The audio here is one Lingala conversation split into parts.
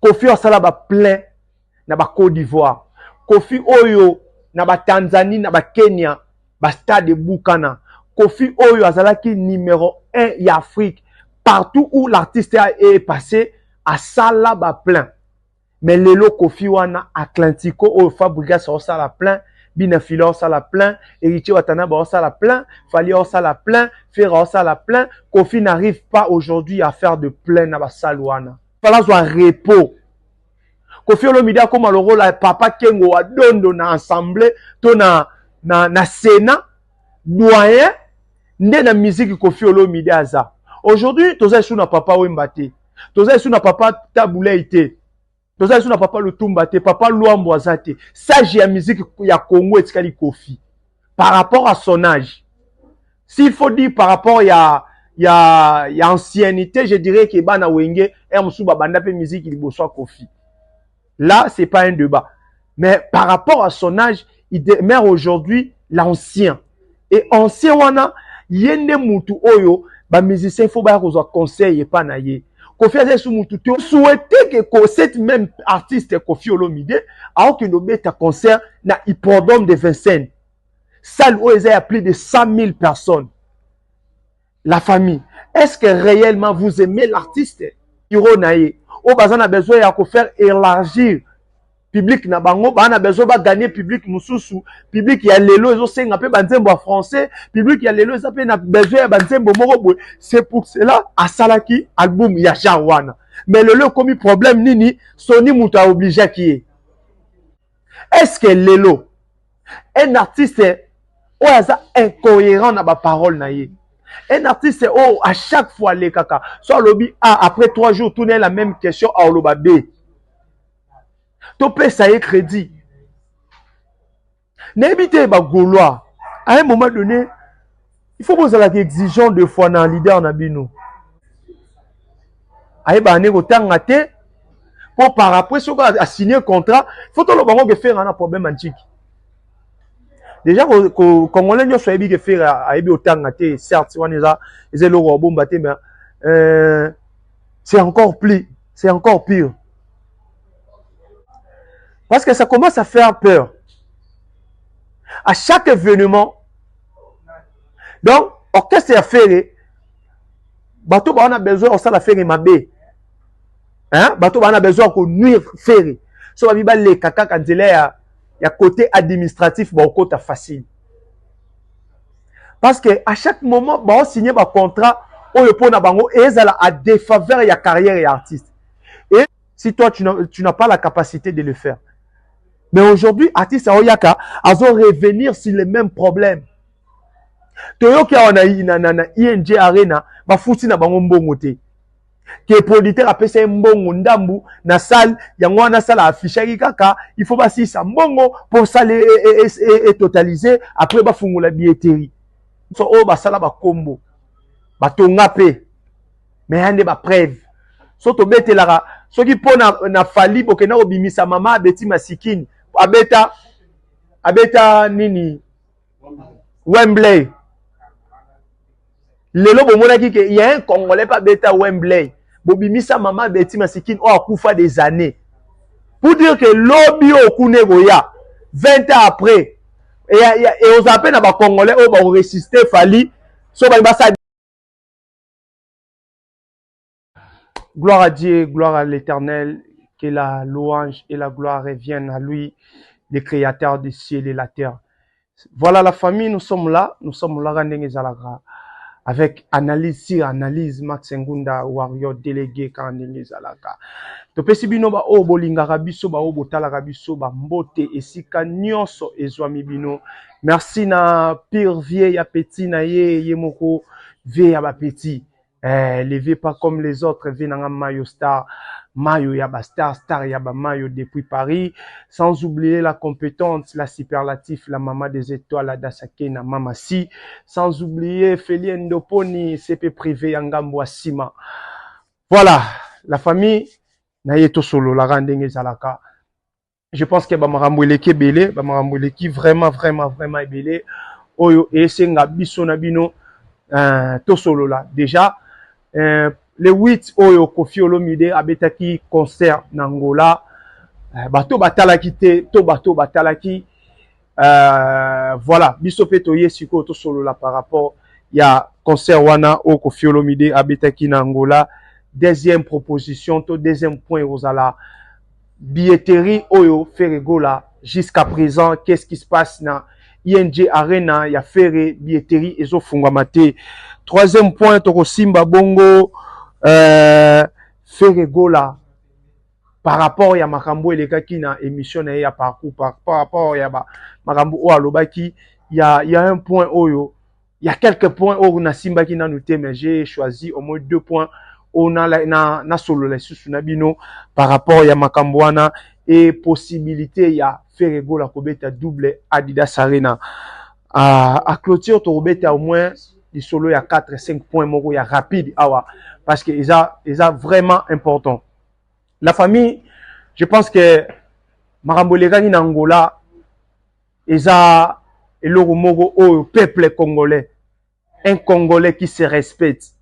Kofi asala ba plein na ba Cote d'Ivoire. Kofi oyo na ba Tanzanie na ba Kenya ba stade ebukana. Kofi oyo azalaki numero 1 ya Afrique partout où l'artiste a est passé asala ba plein. Mais lelo Kofi wana Atlantico oyo Fabrigas asala plein bina filo osala plein héritier watanaba osala plein fali osala plein fera osala plein kofi n'arrive pas aujourd'hui à faire de plein na basale wana fala azwa repos kofi olomide akóma lokola papa kengo wa dondo na assemblée to na, na, na sénat doyen nde na miziki kofi olomide aza aujourd'hui toza esu na papa wemba te toza esu na papa tabulei te toza lisusu na papa lutumba te papa luambo aza te sage ya musique ya congo etikali kofi par rapport à son âge s'il faut dire par rapport ya ya ya anciennité je dirais ke bana wenge er mosusu babanda mpe musique liboso ya kofi là c'est pas un débat mais par rapport à son âge il demeure aujourd'hui l'ancien et ancien wana ye nde mutu oyo bamusicien fo baya kozwa conseil epa na ye kofi aza esu mutu te souhaite ke ko cette même artiste kofi olomide aokende obeta concert na hippodrome de vincennes salle oyo eza ya plus de 100 000 personnes la famille est ce que réellement vous aimez l'artiste iro na ye oyo baza na besoin ya kofaire élargir public na bango baa na besoin baganye public mosusu public ya lelo ezosenga mpe banzembo ya français public ya lelo eza mpe na besoin ya banzembo moko boye c'est pour cela asalaki album ya genre wana mais lelo ekomi problème nini soni moto aobligeaki ye est ce que lelo un artiste oyo aza incohérent na baparole na ye un artiste oyo à chaque fois alekaka so alobi a ah, après trois jours tuna ye la même question aoloba b topesa ye crédit nayebi te bagaulois à un moment donné il faut bozalaka exigeant de fois na leader na bino ayebaka nde kotanga te mpo par après soki asigne contrat faut toloba ngo gefera na problème ya ntiki deja congolais nyonso ayebi gefera ayebi otanga te certes wana eza eza eloko obomba te mais euh, c'est encore plus c'est encore pire parce que ça commence à faire peur à chaque événement donc orchestre ya fere bato bawa na besoin osala fere mabe hein? bato bawa na besoin ya konuire fere so babi baleka kaka nzela ya, ya côté administratif baokota facile parce que à chaque moment baosigne bacontrat oyo mpo na bango ezala a défaveur ya carrière ya artiste si toi tu n'as tu n'as pas la capacité de le faire mais aujourd'hui artiste aoyaka azo revenir sur les mêmes problèmes toyoki awa na, na, na, na ing arena bafuti na bango mbongo te ke producteur apesa ye mbongo ndambu na salle yango wana sala affichaki kaka il faut basilisa mbongo mpo sale e, e, e, etotalise après bafungola billetterie so oyo basala bakombo batonga mpe me ya nde bapreve so tobetelaka soki mpo na, na fali bokenda kobimisa mama abeti masikini abeta abeta nini wembley lelo bomonaki ke ya un congolais mpe abeta wembley bobimisa mama abeti masikini oyo akufa des années pour dire ke lobi oyo kuna ekoya 20 ans après eozala mpe na bacongolais oyo bakoresiste fali so balingi basala Gloire à Dieu, gloire à l'Éternel, que la louange et la gloire reviennent à lui, le créateur du ciel et la terre. Voilà la famille, nous sommes là, nous sommes là, Randenge Zalagra, avec analyse sur analyse, Max Ngunda, Warrior, délégué, Randenge Zalagra. topesi bino baoyo bolingaka biso baoyo botalaka biso bambote esika nyonso ezwami bino merci na pire vie ya petit na ye ye moko vie ya ba petit eh, le vie pas comme les autres vie na nga mayo star mayo ya ba star star ya ba mayo depuis paris sans oublier la compétente la superlatif la mama des étoiles la dasake na mama si sans oublier felie ndoponi sepe privé ya ngambo ya sima voilà la famille na ye tosololaka ndenge ezalaka je pense que bamakambo eleki ebele bamakambo eleki vraiment vraiment vraiment ebele oyo esenga biso na bino euh, tosolola déjà euh, le 8 oyo kofi olomide abetaki concert na ngola euh, bato batalaki te to bato batalaki Euh, voilà biso mpe toye sikoyo tosolola par rapport ya concert wana oyo Koffi Olomide abetaki na Angola deuxième proposition to deuxième point ekozala billetterie oyo Ferre Gola jusqu'à présent qu'est-ce qui se passe na ING Arena ya Ferre billetterie ezofungwama te troisième point tokosimba bongo euh, Ferre Gola par rapport ya makambo elekaki na emission na ye ya parcours par, par rapport ya ba makambo oyo alobaki ya ya un point oyo ya quelques points oyo nasimbaki nanu te mais j'ai choisi au moins deux points oyo na, na, na solola lisusu na bino par rapport ya makambo wana e possibilité ya Ferre Gola kobeta double Adidas Arena à, à clôture tokobeta au moins lisolo ya 4 5 points moko ya rapide awa parce que eza eza vraiment important la famille je pense que makambo elekaki na angola eza eloko moko oyo peuple congolais un congolais qui se respecte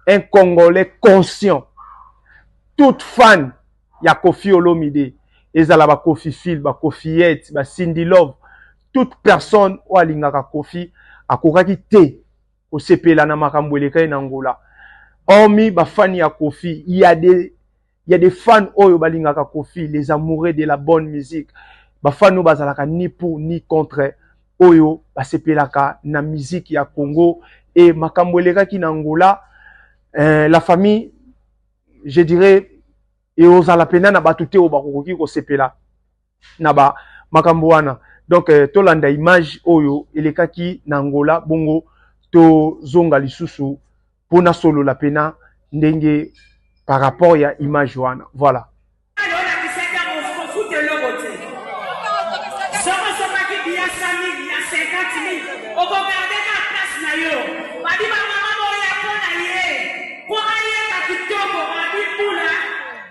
un congolais conscient toute fan ya kofi olomide ezala bakofi fil bakofiyete basindilove toute personne oyo alingaka kofi akokaki te kosepela na makambo elekaki na Angola. Hormis ba fans ya Koffi, il y a des il y a des fans oyo balingaka Koffi, les amoureux de la bonne musique. Ba fans oyo bazalaka ni pour ni contre oyo basepelaka na musique ya Congo et makambo elekaki na Angola eh, la famille je dirais eozala pena na bato te oyo bakokoki kosepela na ba makambo wana donc euh, tolanda image oyo elekaki na Angola bongo tozonga lisusu mpo nasolola pena ndenge par rapport ya image wana voilà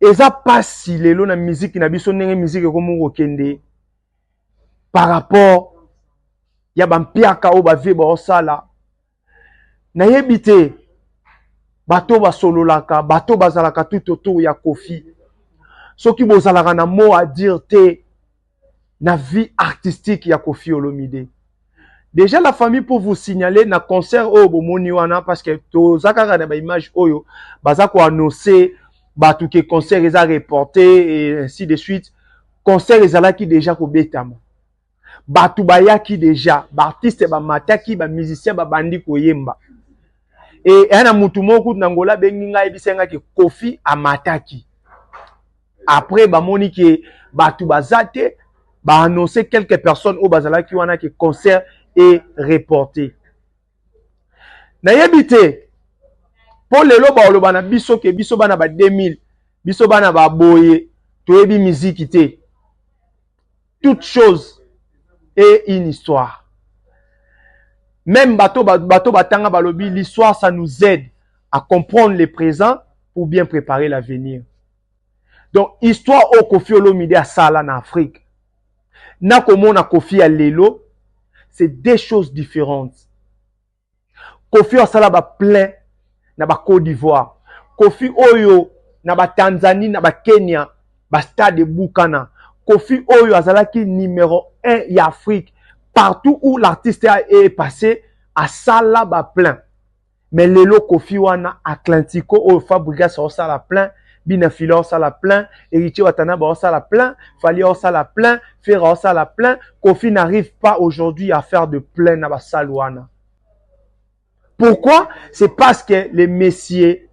eza pasi lelo na miziki na biso ndenge miziki ekomi kokende par rapport ya bampiaka oyo bavie baosala nayebi te bato basololaka bato bazalaka tout autour ya kofi soki bozalaka na mot à dire te na vie artistique ya Koffi Olomide. Déjà la famille pour vous signaler na concert oyo bomoni wana parce que toza kaka na ba images oyo baza ko annoncer bato ke concert eza reporté et ainsi de suite. Concert ezalaki déjà kobetama. Bato bayaki déjà, ba artistes bamataki, ba musiciens babandi koyemba. Et yana mutu moko kutu na Angola bengi ngai yebisa ngai ke Koffi amataki. après bamoni ke bato baza te baannonce quelques personnes oyo bazalaki wana ke concert e reporte nayebi te mpo lelo baoloba na biso ke biso bana ba 2000 biso bana baboye toyebi miziki te toute chose e une histoire même bato bato batanga balobi l'histoire ça nous aide à comprendre le présent pour bien préparer l'avenir donc histoire oyo kofi olomide asala na afrique na komona kofi ya lelo c'est deux choses différentes kofi asala ba plein na ba côte d'ivoire kofi oyo na ba tanzanie na ba kenya ba stade ebukana kofi oyo azalaki numero 1 ya afrique partout où l'artiste est passé asala ba plein mais lelo kofi wana atlantico oyo fabrigas aosala plein bina filo aosala plein eritie watana baosala plein fali aosala plein fera aosala plein kofi n'arrive pas aujourd'hui à faire de plein na basale wana pourquoi c'est parce que le messier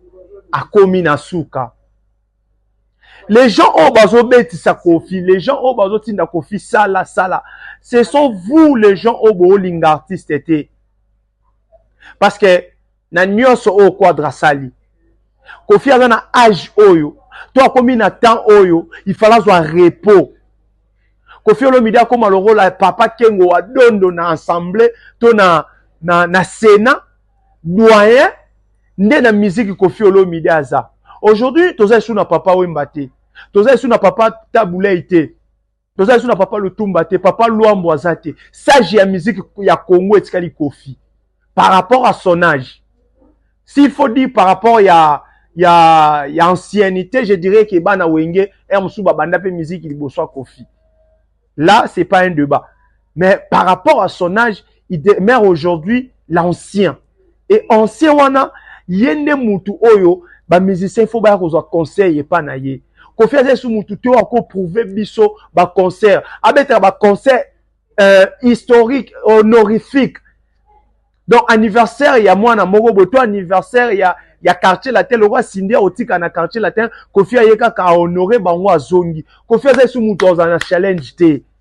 akomi na suka les gens oyo bazobetisa kofi les gens oyo bazotinda kofi sala sala ce sont vous les gens oyo boolinga artiste te parce que na nyonso oyo quadre asali kofi aza na age oyo to akomi na temps oyo ifala azwa repos kofi olomide akóma lokola papa kengo wa dondo na ensemble to na, na, na sénat doyen nde na miziki kofi olomide aza aujourd'hui toza esu na papa wemba te toza esu na papa tabulei te toza lisusu na papa lutumba te papa luambo aza te sage ya musique ya congo etikali kofi par rapport à son âge s'il faut dire par rapport ya ya ya anciennité je dirais que bana wenge er mosusu babanda mpe musique liboso ya kofi là c'est pas un débat mais par rapport à son âge il demeure aujourd'hui l'ancien et ancien wana ye nde mutu oyo bamusicien fo baya kozwa conseil epa na ye kofi aza esu mutu te oyo akoprouve biso baconcert abetaka baconcert euh, historique honorifique donc anniversaire ya mwana moko boye to anniversaire ya ya quartier latin lokola sindi akotika na quartier latin kofi aye kaka ahonore bango azongi kofi aza esu mutu azala na challenge te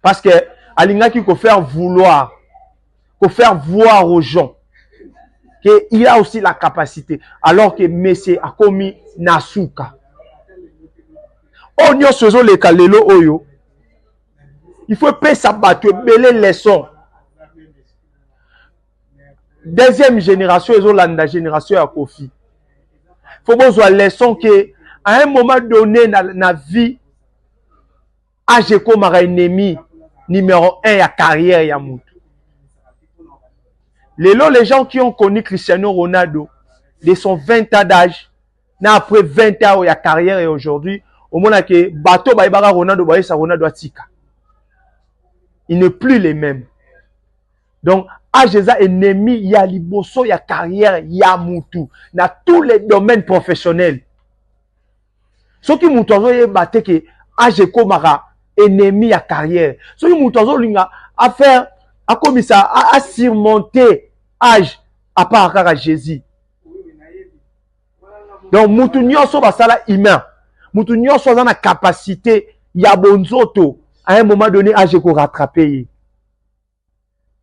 parce que alingaki ko faire vouloir ko faire voir aux gens que il a aussi la capacité alors que monsieur akomi na suka oyo nyonso ezoleka lelo oyo il faut epesa bato ebele leçon deuxième génération ezolanda génération ya kofi faut bozwa leçon que à un moment donné na, na vie Age ekomaka ennemi numero 1 ya carrière ya moto. Lelo les gens qui ont connu Cristiano Ronaldo de son 20 ans d'âge na après 20 ans ya carrière ya aujourd'hui omona ke bato bayebaka Ronaldo bayesa Ronaldo atika. Il n'est plus les mêmes. Donc age eza ennemi ya liboso ya carrière ya mutu na tous les domaines professionnels. soki moto azoyeba te ke age ekomaka ennemi ya carrière soki moto azolinga afaire akomisa asurmonte age apart kaka jésus donc moto nyonso basala humain moto nyonso aza na capacité ya bonzoto à un moment donné age ekorattrape ye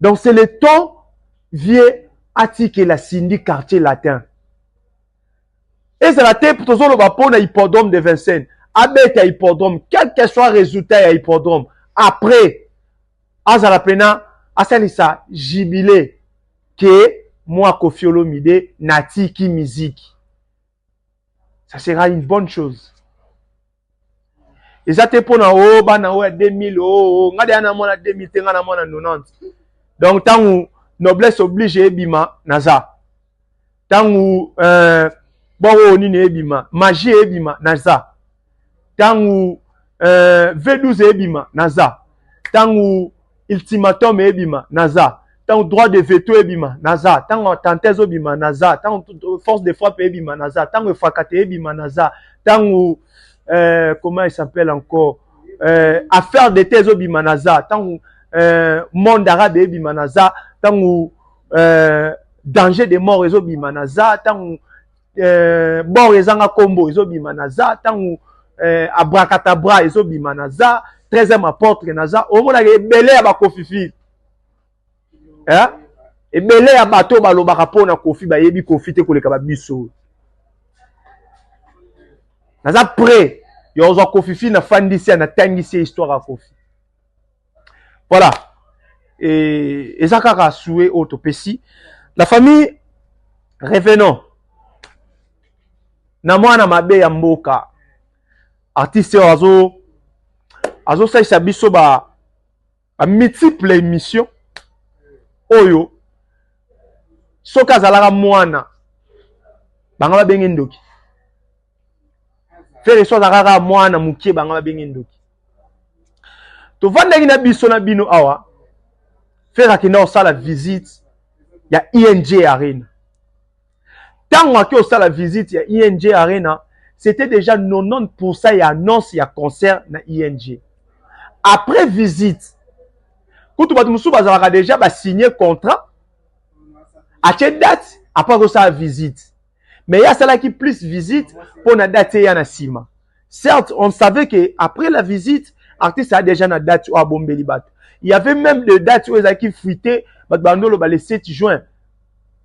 donc c'est le temps vie atikela cindy quartier latin ezala te tozoloba mpo na hippodrome de vincennes abeta hippodrome quel que soit résultat ya hippodrome après azala mpena asalisa jibile ke mwa kofiolomide natiki miziki ça sera une bonne chose eza te mpona o oh, bana oyo ya 2000 oo oh, oh, ngai deya na mwana 2000 te ngai na mwana 90 donc ntango noblesse oblige ebima naza ntango euh, bongo nini ebima magie ebima naza ntango euh, V12 ebima naza, ntango ultimatum ebima naza, ntango droit de veto ebima naza, ntango attentat ezobima naza, ntango force de frappe ebima naza, ntango efakate ebima naza, ntango euh, comment il s'appelle encore euh, affaire d'état ezobima naza, ntango euh, monde arabe ebima naza, ntango euh, danger de mort ezobima naza, ntango eh, bor ezanga kombo ezobima naza ntango eh, abrakatabra ezobima naza 13e aportre naza omonaka ebele ya bakofifile eh? ebele ya bato oyo balobaka mpo na kofi bayebi kofi te koleka babiso naza pre ya ozwa kofifi nafandisi ya natangisi ya histoire ya kofi voilà et eza kaka souhait oyo topesi la famille revenons na mwana mabe ya mboka artiste oyo azo azosalisa biso ba, ba multiple émission oyo soki azalaka mwana bango babenge ndoki Ferre so azalaka kaka mwana moke banga babenge ndoki. Tovandaki na biso na bino awa, Ferre akenda kosala visite ya ING e Arena. Ntango ake kosala visite ya ING e Arena, c'était déjà 90% ya annonce ya concert na ING. E Après visite, kutu bato mosusu bazalaka déjà basigne contrat, atie date, apres akosala visite. mais ye asalaki plus visite mpo na date eya na nsima certes on savait que après la visite artiste a déjà na date oyo abombeli bato il y avait même de date oyo ezalaki fuite bato bando oloba le 7 juin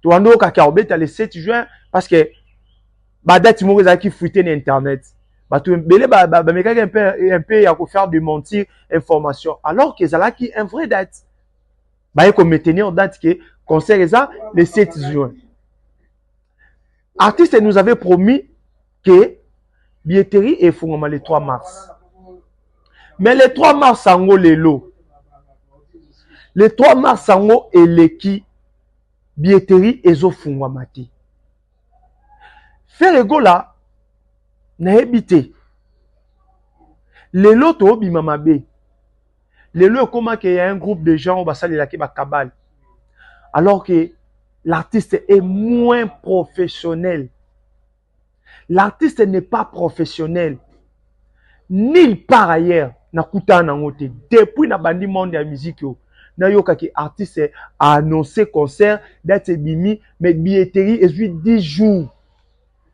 tobando okaki akobeta le 7 juin parce que badate moko ezalaki fuite na internet bato ebele bamekaki mpe ya kofaire de mentir information alors que ezalaki un vrai date baye ko maintenir date que concert eza le 7 juin artiste nous avait promis que billetterie efungama le 3 mars mais le 3 mars yango lelo le 3 mars yango eleki billetterie ezofungwama te fere gola nayebi te lelo toobima mabe lelo ekoma ke ya un groupe de gens oyo basalelaki ba cabale alors que l'artiste est moins professionnel l'artiste n'est pas professionnel nulle part ailleurs nakutana nango te depuis nabandi monde ya miziki oyo nayokaki artiste aannonce concert date ebimi mais billetterie ezwi 10 jours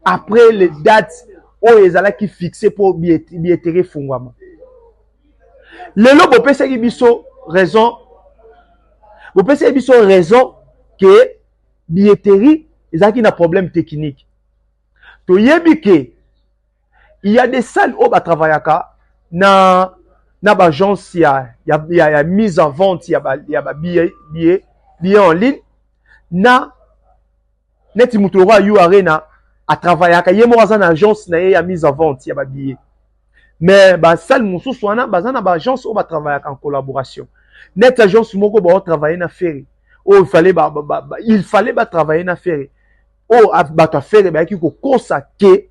après le date oyo ezalaki fixe mpo billetterie efungwama lelo bopesaki biso raison bopesaki biso raison ke billetterie ezalaki na problème technique toyebi ke il y a des salles oyo batravayaka na na baagence ya, ya, ya, ya mise en vente ya babillet ba, ya ba billet, billet en ligne na neti moto lokola yo arena atravayaka ye moko aza na agence na ye ya mise en vente ya babillet mais basale mosusu wana baza na baagence oyo batravayaka en collaboration neti agence moko baotravaille na fere oyo fale ba, ba, ba, ba, il fallait batravaille na fere oyo bato ya fere bayaki kokosa ke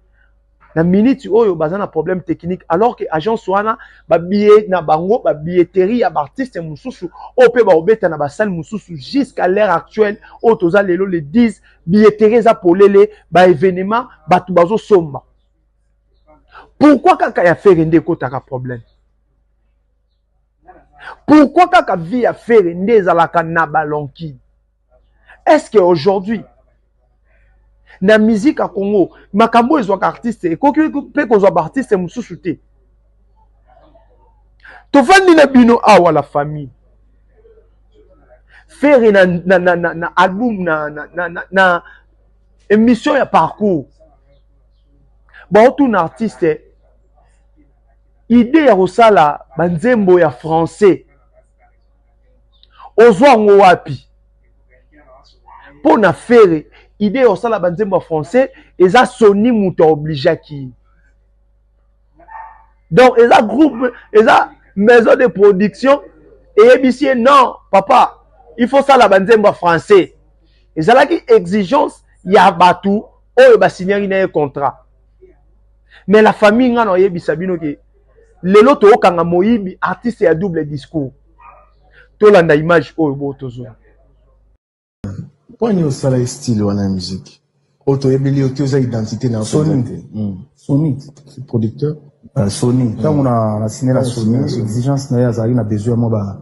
na minute oyo baza na problème technique alors que agence wana ba billet na bango ba billetterie ya ba artiste mosusu oyo mpe baobeta na basale mosusu jusqu'à l'heure actuelle oyo toza lelo le 10 billetterie eza polele ba événement bato bazosomba pourquoi kaka ya fere nde ekotaka problème pourquoi kaka vie ya fere nde ezalaka na balonki est ce que aujourd'hui na musique ya congo makambo oyo ezwaka artiste ekoki mpe kozwa baartiste mosusu te tofandi na bino awa la famille fere na, na, na, na, na album na, na, na, na, na émission ya parcours baotuna artiste idée ya kosala banzembo ya français ozwa yango wapi mpo na fere ide ya kosala banzembo ya français eza soni moto aobligeaki donc eza groupe eza maison de production eyebisi ye non papa il faut sala banzembo ya français ezalaki exigence ya bato oyo basignaki na ye contrat mais la famille nga na oyebisa bino ke lelo tookanga moyibi artiste ya double discours tolanda image oyo bo tozwa poni osala ye style wana ya musique oyo toyebeli yo te oza identité na soni te hmm. soni producteur euh, soni ntango hmm. na sine na soni exigence na ye azalaki na besoin ya mwa ba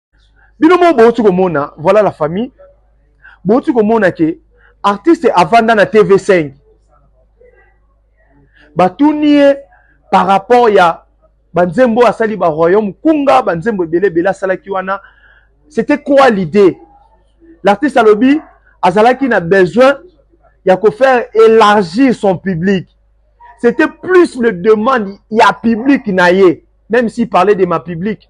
bino moko bowuti komona voilà la famille bowuti komona ke artiste avanda na tv5 batuni ye par rapport ya banzembo asali ba royaume kunga banzembo ebele ebele asalaki wana c'était quoi l'idée l'artiste alobi azalaki na besoin ya kofaire élargir son public c'était plus le demande ya public na ye même s'il parlait de ma public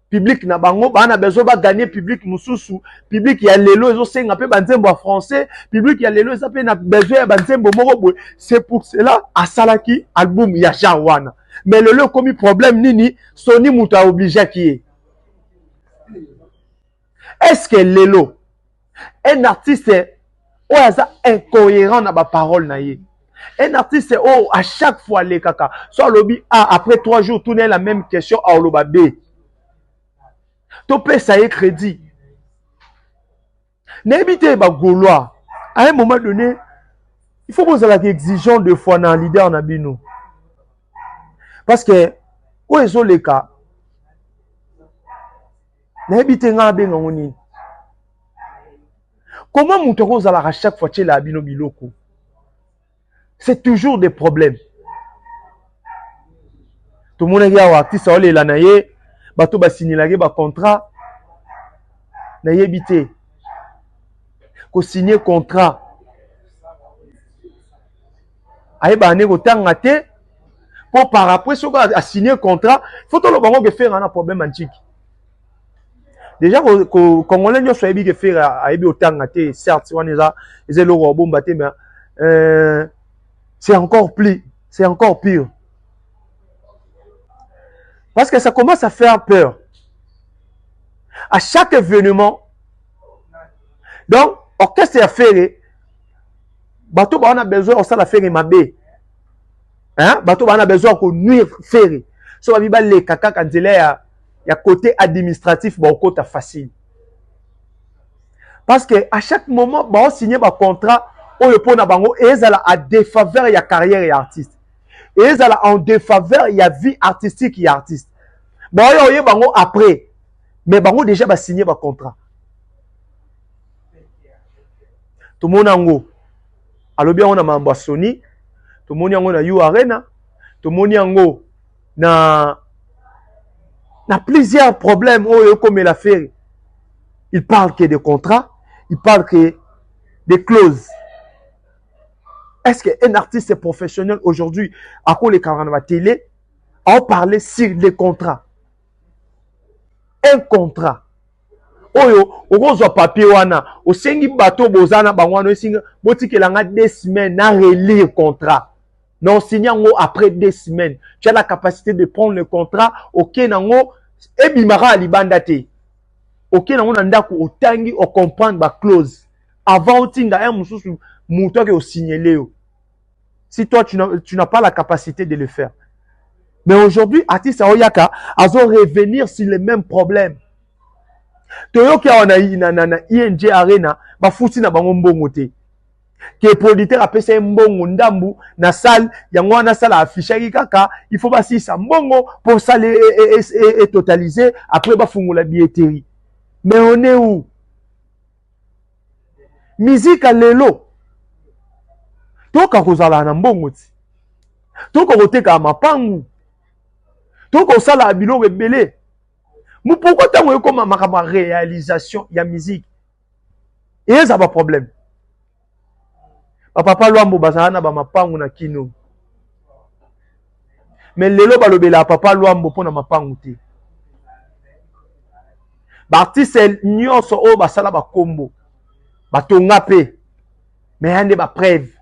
public na bango baa na besoin ba gagner public mosusu public ya lelo ezosenga mpe banzembo ya français public ya lelo eza mpe na besoin ya banzembo moko boye c'est pour cela asalaki album ya genre wana mais lelo ekomi problème nini soni moto aobligeaki ye est ce que lelo un artiste oyo aza incohérent na baparole na ye un artiste oyo à chaque fois alekaka so alobi a ah, après trois jours tuna ye la même question aoloba b topesa ye crédit nayebi te bagaulois à un moment donné il faut bozalaka exigeant de fois na leader na bino parce que oyo ezoleka nayebi te ngai abenga ngo nini koma moto akozalaka chaque fois tyelaa bino biloko c'est toujours des problèmes tomonaki awa artiste aolela na ye bato basinilaki bacontrat nayebi te kosigne contrat ayebaka nde kotanga te mpo par après soki asigne contrat fo toloba yango kefera na problème ya ntiki deja congolais nyonso ayebi kefera ayebi otanga te certes wana eza eza eloko ya bomba te mais euh, c'est encore plus c'est encore pire parce que ça commence à faire peur à chaque événement donc orchestre ya fere bato bawana besoin ya kosala fere mabe hein? bato bawana besoin ya konuire fere so babi baleka kaka nzela ya, ya côté administratif baokota facile parce que à chaque moment baosigne bacontrat oyo mpo na bango ezala a défaveur ya carrière ya artiste ezala en défaveur ya vie artistique ya artiste baoya oye bango après mais bango déjà basigne bacontrat tomona yango alobi yango na mambo ya soni tomoni yango na u arena tomoni yango na na plusieurs problèmes oyo ekomela feri il parle que de contrat il parle que de clause est-ce que un artiste professionnel aujourd'hui akolekaka na batele aoparle sur le contrat un contrat oyo okozwa papier wana osengi bato boza na bango wana osingi botikela nga deux semaines na relire contrat na osingi yango après deux semaines tu as la capacité de prendre le contrat okei na yango ebimaka ya libanda te okei na yango na ndako otangi ocomprendre baclause avant otinda un mosusu moto ake osignele yo si toi tu n'as tu n'as pas la capacité de le faire mais aujourd'hui artiste yango yaka azo revenir sur les mêmes problèmes toyoki awa na, na, na, na ing arena bafuti na bango mbongo te ke producteur apesa ye mbongo ndambu na salle yango wana salle affichaki kaka il faut basilisa mbongo mpo salle e, e, e, e, e totalise après bafungola billetterie mais on est où Musique ya lelo toyoka kozala na mbongo ti toyoka kotekaka mapangu toyoka kosalaka biloko ebele mopoko ntango ekoma makambo ya réalisation ya musique eyeza baproblème bapapa lwambo bazala na bamapangu na kino me lelo balobelaka papa lwambo mpo na mapangu te baartiste nyonso oyo basala bakombo batonga mpe me ya nde bapreve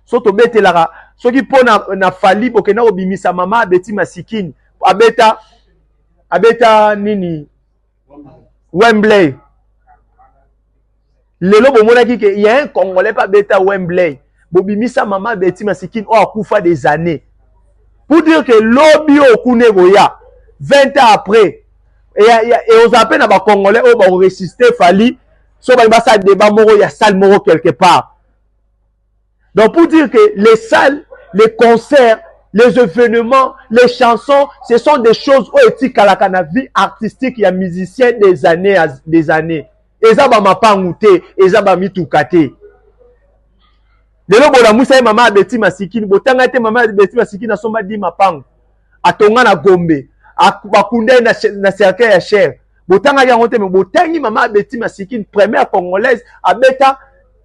so tobetelaka soki mpo na, na fali bokenda kobimisa mama abeti masikini abeta abeta nini Wembley. Lelo bomonaki ke ya un congolais pa beta Wembley. Bobimisa mama Betty Masikini oyo akufa des années. Pour dire que lobi oyo kuna ekoya 20 ans après ekozala mpe na bacongolais oyo bakoresiste fali so balingi basala debat moko ya salle moko quelque part Donc pour dire que les salles, les concerts, les événements, les chansons, ce sont des choses oyo etikalaka na vie artistique ya musicien des années des années. Eza ba mapangu te, eza ba mituka te. Lelo bolamusa ye mama abeti masikini, botanga te mama abeti masikini asomba di mapangu. Atonga na Gombe, bakunda ye na, na cercueil ya cher. Botangaki yango te, mais botangi mama abeti masikini, première congolaise abeta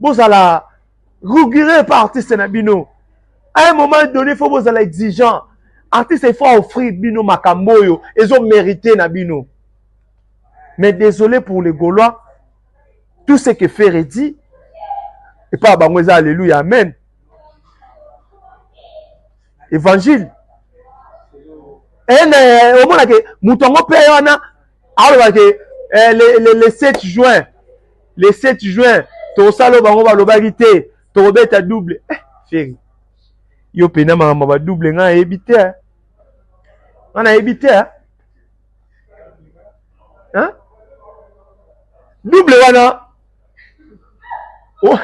bozala rigoureux pa artiste na bino à un moment donné faut bozala exigeant artiste il faut offrir bino makambo oyo ezo mérité na bino mais désolé pour les gaulois tout ce que ferre dit epa bango eza alléluia amen évangile ene eh, omonake moto yango mpe wana aloba ke eh, le, le, le 7 juin le 7 juin tokosala bango balobaki te tokobeta double eh, feri yo mpena makambo ya badouble ngai nayebi te eh. ngai nayebi te eh. hein? double wana oh.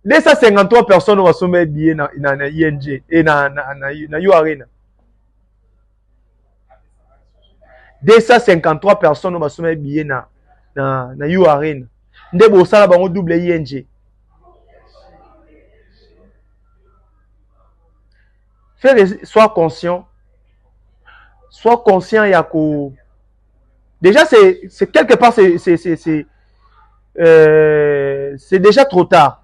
253 personnes oyo basombeli billet na, na, na ing e na, na, na, na, na u arena 253 personnes basomaki billet na na na U Arena nde bosala bango double ING. Ferre soit conscient soit conscient ya ko déjà c'est c'est quelque part c'est c'est c'est euh, c'est déjà trop tard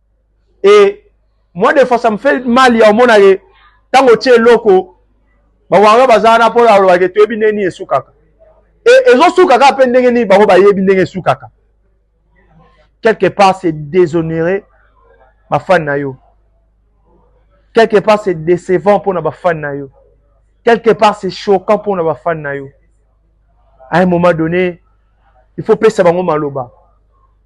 et moi de fois ça me fait mal ya omona ke ntango otie eloko bawanga baza wana mpo na olobake toyebi ndenge nini esukaka e ezosuka kaka mpe ndenge nini bango bayebi ndenge esukaka quelque part c'est déshonorer bafani na yo quelque part c'est décevant mpo na bafani na yo quelque part c'est choquant mpo na bafani na yo à un moment donné il faut pesa bango maloba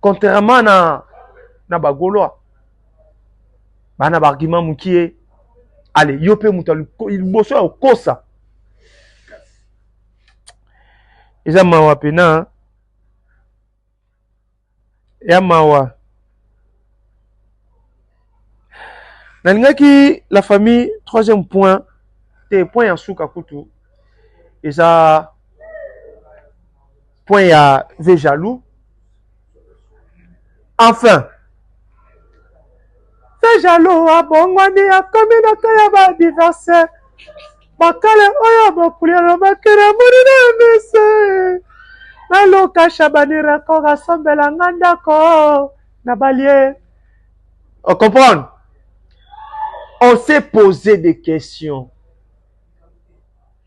Contrairement na, na bagolois bana ba argument mukie ale yo mpe moto liboso ya kokosa eza mawa pena ya mawa nalingaki la famille troisième point te point ya suka kutu eza point ya ve jaloux enfin Feu jaloux abongwani akomi na cas ya ba divorce ba kale oyo bokuli alobaki na moni na misu na luka shabani record asombela nga ndako na balie o comprendre on s'est pose des questions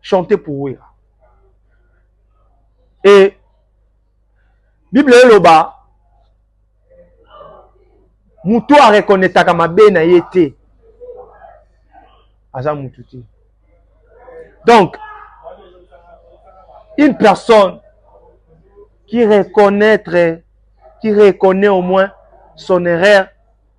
chante pour wera e bible eloba moto arekonetaka mabe na ye te aza motu te donc une personne qui reconnaître qui reconnaît au moins son erreur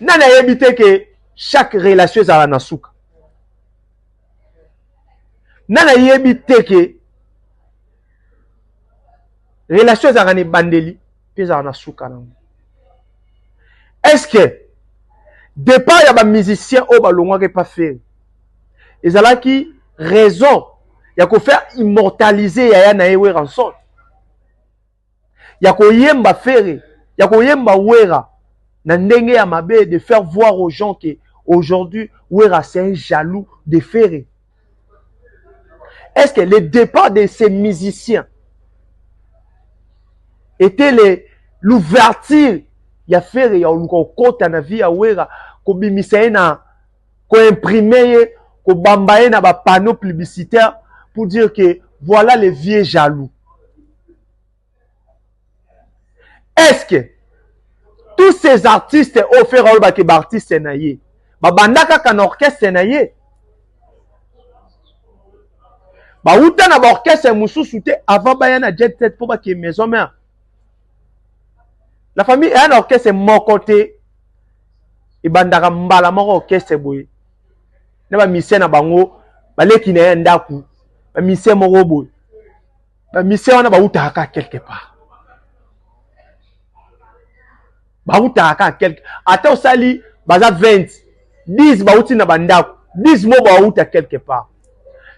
nani ayebi te ke chaque relation ezala na suka nani ayebi te ke relation ezalaka na ebandeli mpe ezala na suka nango est ce que départ ya bamusicien oyo balongwaki epa feri ezalaki raison ya kofaire immortalise yaya na ye weranson ya koyemba Ferre, ya koyemba Werra na ndenge ya mabe de faire voir aux gens que aujourd'hui Werra c'est un jaloux de Ferre. Est-ce que le départ de ces musiciens était les l'ouverture ya Ferre ya oluka okota na vie ya Werra kobimisa ye na ko imprimer ye ko bamba ye na ba panneaux publicitaires pour dire que voilà le vieux jaloux est ce que tous ces artistes oyo fera olobake baartiste na ye babanda kaka na orchestre na ye bawuta na baorchestre mosusu te avant baya na jet set mpo bakee maison mère la famille eya na orchestre moko te ebandaka mbala moko orchestre boye na ba musicien na bango baleki na ye ya ndako ba musicien moko boye ba musicien wana bautaka kaka quelque part bautaka kaka quelque ata osali baza 20 10 bauti na bandako 10 mo bauta quelque part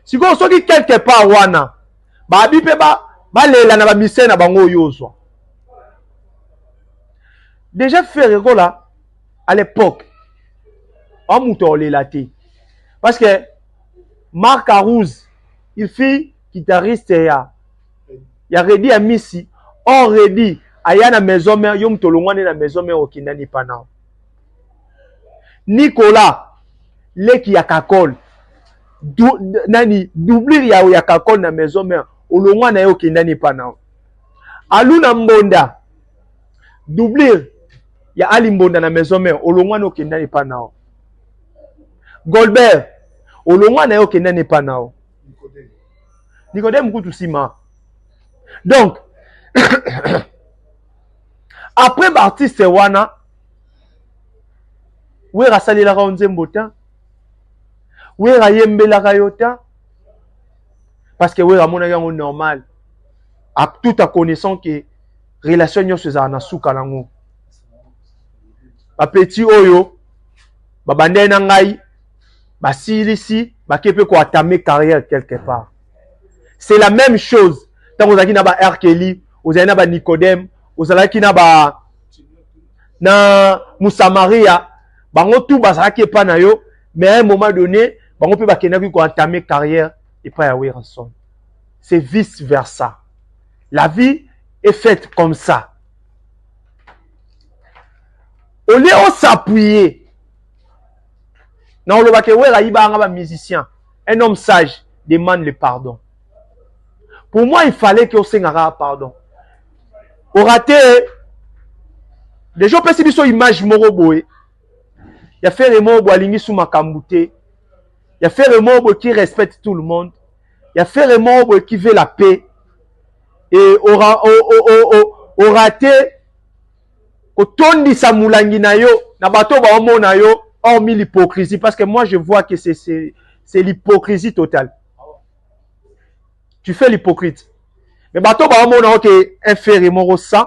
sikoyo soki quelque part wana babi mpe balela na ba musicien na bango oyo ozwa Deja Ferre Gola à l'époque en moto olela te parce que Marc Arouz il fit guitariste ya ya Reddy ya Misi or Reddy aya na maison mère yo moto olongwani na maison mère okinda ni panao Nicolas leki ya Kakol du, nani doublure ya ya Kakol na maison mère olongwa na ye okenda ni panao Aluna Mbonda doublure ya Ali Mbonda na maison mère olongwani okenda ne pa nao Golbert olongwa na yo okenda ne pa nao Nicodème kutu sima donc après baartiste wana wera asalelaka yo nzembo te wera ayembelaka yo te parce que wera amonaki yango normal tout en connaissant que relation nyonso ezala na suka nango bapeti oyo babandai na ngai basilisi bake mpe koatame carrière quelque part c'est la même chose ntango ozalaki na ba arkeli ozali na ba nicodème ozalaki na ba na musamaria bango tu bazalaki epai na yo mais à un moment donné bango mpe bakendaki ko entame carrière epai ya werrason c'est vice versa la vie est faite comme ça au lieu o s'appuyer na oloba ke wera ayibanga ba musicien un homme sage demande le pardon pour moi il fallait ke osengaka pardon orate deja opesi biso image moko boye ya fere mobo alingi su makambo te ya fere mobo qui respecte tout le monde ya fere mobo qui veut la paix et aura o, o, o, o, aura te kotondisa mulangi na yo na bato oyo baomona yo hormis l'hypocrisie parce que moi je vois que c'est c'est c'est l'hypocrisie totale tu fais l'hypocrite mais bato baomona yo ke un fere moko sans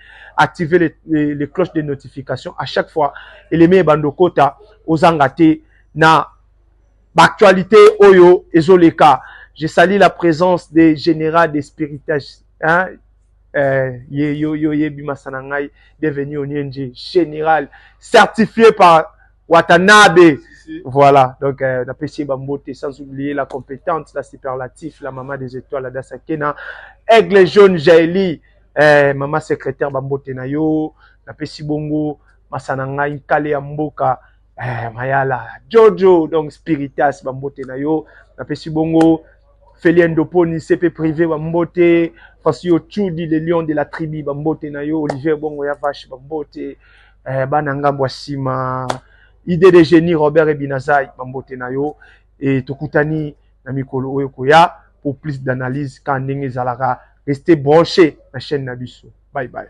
activer les, les, les cloches de notification à chaque fois eleme ebanda okota ozanga te na baactualité oyo ezoleka je sali la présence de général de spiritage hein? Euh, ye yo yo yebi masana ngai devenu onienje général certifié par watanabe voilà donc euh, napesi ye bambote sans oublier la compétente la superlatif la maman des étoiles adasa kena aigle jaune jaeli Eh, mama secretaire bambote na yo napesi bongo masa na ngai nkale ya mboka eh, mayala jojo donc spiritas bambote na yo napesi bongo felien doponi cp privé bambote fasi yo chudi le lion de la tribu bambote na yo olivier bongo ya vache bambote eh, bana ngambo ya nsima idee de génie robert ebinazai bambote na yo et tokutani na mikolo oyo ekoya pour plus d'analyse ka ndenge ezalaka reste branche na chaine na biso bye bye.